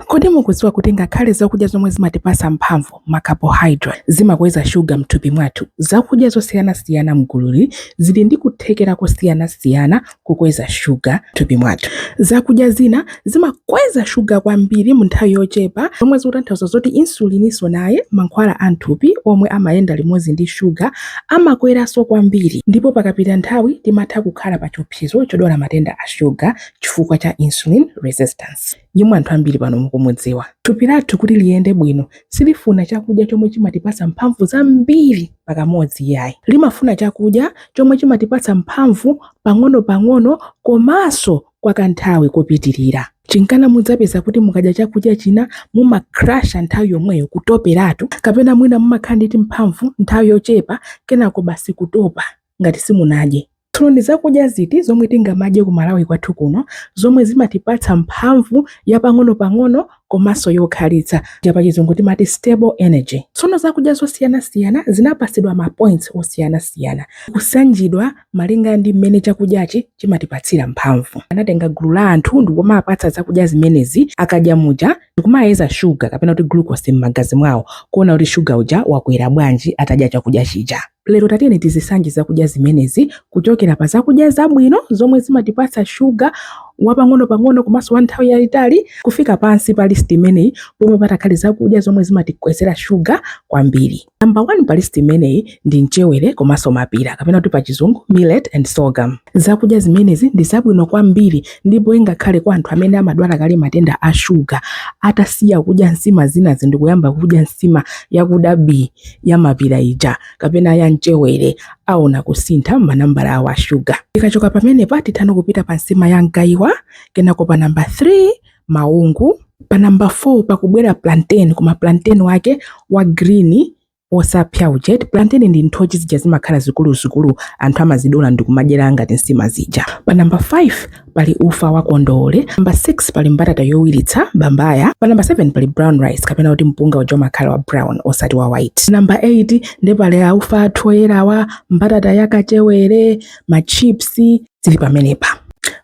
Kodi mukudziwa kuti ngakhale zakudya zomwe zimatipasa mphamvu, ma carbohydrate, zimakweza shuga mthupi mwathu? Zakudya zosiyanasiyana mgululi zili ndi kuthekera kosiyanasiyana kukweza shuga mthupi mwathu. Zakudya zina zimakweza shuga kwambiri mu nthawi yochepa zomwe zikutanthauza zoti insulininso naye, mankhwala a mthupi omwe amayenda limodzi ndi shuga, amakweranso kwambiri ndipo pakapita nthawi timatha kukhala pa chiopsezo chodwala matenda a shuga chifukwa cha insulin resistance. yemwe anthu ambiri pano mukumudziwa. Thupi lathu kuti liyende bwino silifuna chakudya chomwe chimatipatsa mphamvu zambiri pakamodzi iyayi. Limafuna chakudya chomwe chimatipatsa mphamvu pang'onopang'ono komanso kwa kanthawi kopitirira. Chinkana mudzapeza kuti mukadya chakudya china mumakrasha nthawi yomweyo, kutoperatu, kapena mwina mumakhala ndi timphamvu nthawi yochepa kenako basi kutopa ngati simunadye. Tsono ndi zakudya ziti zomwe tingamadye ku Malawi kwathu kuno zomwe zimatipatsa mphamvu ya pang'onopang'ono komanso yokhalitsa ija pachizungu timati stable energy? Tsono zakudya zosiyanasiyana zinapatsidwa ma points osiyanasiyana kusanjidwa malinga ndi mmene chakudyachi chimatipatsira mphamvu. Anatenga gulu la anthu ndikumapatsa zakudya zimenezi, akadya muja ndikumayeza shuga kapena kuti glucose mmagazi mwawo kuona kuti shuga uja wakwera bwanji atadya chakudya chija. Lero tatiyeni tizisanje zakudya zimenezi kuchokera pa zakudya zabwino zomwe zimatipatsa shuga wapang'onopang'ono komanso wa nthawi yayitali kufika pansi pa list imeneyi pomwe patakhale zakudya zomwe zimatikwezera shuga kwambiri. Namba 1 pa list imeneyi ndi mchewere komanso mapira kapena kuti pa chizungu millet and sorghum. Zakudya zimenezi ndi zabwino kwambiri ndipo ingakhale kwa anthu amene amadwala kale matenda a shuga atasiya kudya nsima zinazi ndikuyamba kudya nsima yakuda bii ya mapira ija kapena ya mchewere aona kusintha manambala awo a shuga. Tikachoka pamenepa titha no kupita pa nsima ya mgaiwa, kenako pa namba 3 maungu, pa namba 4 pakubwera plantain koma plantain wake wa green osapsa ujeni. Plantain ndi nthochi zija zimakhala zikuluzikulu anthu amazidula ndi kumadyera ngati nsima zija. Pa namba 5 pali ufa wa kondole namba 6 pali mbatata yowiritsa bambaya pa namba 7 pali brown rice kapena kuti mpunga uja umakhala wa brown osati wa white namba 8 ndi pali aufa athu oyerawa mbatata ya kachewere machips zili pamenepa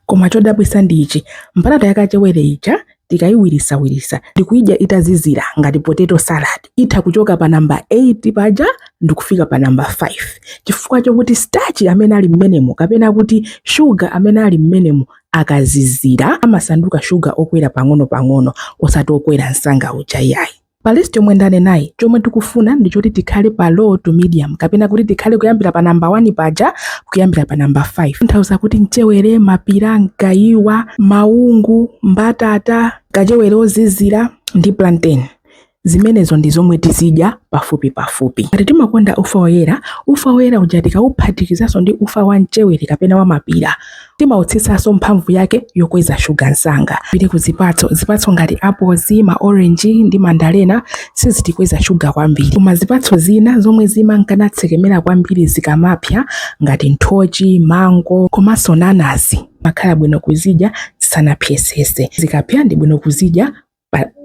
koma chodabwisa ndi ichi mbatata ya kachewere ija Tikayiwirisawirisa ndikuyidya itazizira ngati potato salad, itha kuchoka pa number 8 paja ndikufika pa number 5 chifukwa chokuti starch amene ali mmenemo kapena kuti sugar amene ali mmenemo akazizira amasanduka sugar okwera pang'onopang'ono osati okwera msanga uja iyayi. Pa list yomwe ndanenayi, chomwe tikufuna ndi choti tikhale pa low to medium kapena kuti tikhale kuyambira pa number 1 paja kuyambira pa number 5. Kutanthauza kuti mchewere, mapira, mgaiwa, maungu, mbatata, kachewere ozizira ndi plantain. Zimenezo ndi zomwe tizidya pafupi pafupi. Ngati timakonda ufa woyera, ufa woyera uja tikauphatikizaso ndi ufa wa mchewere kapena wa mapira, Timautsitsanso mphamvu yake yokweza shuga msanga. Tipite ku zipatso. Zipatso ngati apozi, maorenji, ndi mandalena sizitikweza shuga kwambiri. Koma zipatso zina zomwe zimanka natsekemera kwambiri zikamapsa, ngati nthochi, mango, komanso nanazi, zimakhala bwino kuzidya zisanapsetsetse. Zikapsa ndi bwino kuzidya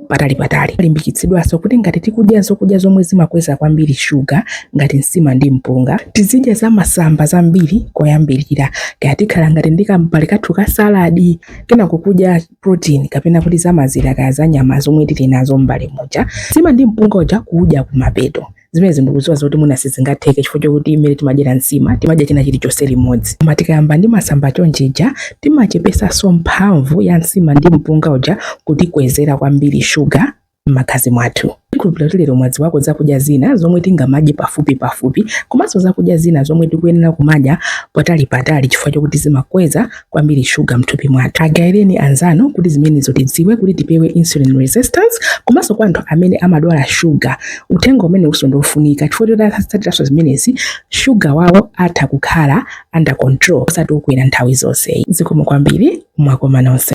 patali patali. Limbikitsidwanso kuti ngati tikudya zokudya zomwe zimakweza kwambiri shuga ngati nsima ndi mpunga, tizidya za masamba zambiri koyambirira. Kaya tikhala ngati ndi kambale kathu ka saladi, kenako kudya protein kapena kuti za mazira kaya za nyama zomwe tili nazo m'mbale muja. Nsima ndi mpunga uja kuudya kumapeto. zimenezi ndikudziwa zoti mwina sizingatheke chifukwa chokuti mmene timadyera nsima timadya china chilichonse limodzi koma tikayamba ndi masamba chonchija timachepesanso mphamvu ya nsima ndi mpunga uja kutikwezera kwambiri shuga m'magazi mwathu tikhulupirira kuti lero mwadziwako zakudya zina zomwe tingamadye pafupi pafupi komanso zakudya zina zomwe tikuyenera kumadya patali patali chifukwa chokuti zimakweza kwambiri shuga mthupi mwathu. Agaireni anzanu kuti zimenezo tidziwe kuti tipewe insulin resistance komanso kwa anthu amene amadwala shuga. Uthenga umenewunso ndi wofunika chifukwa choti atatsatiranso zimenezi shuga wawo atha kukhala under control osati okwera nthawi zonse. Zikomo kwambiri mwakoma nonse.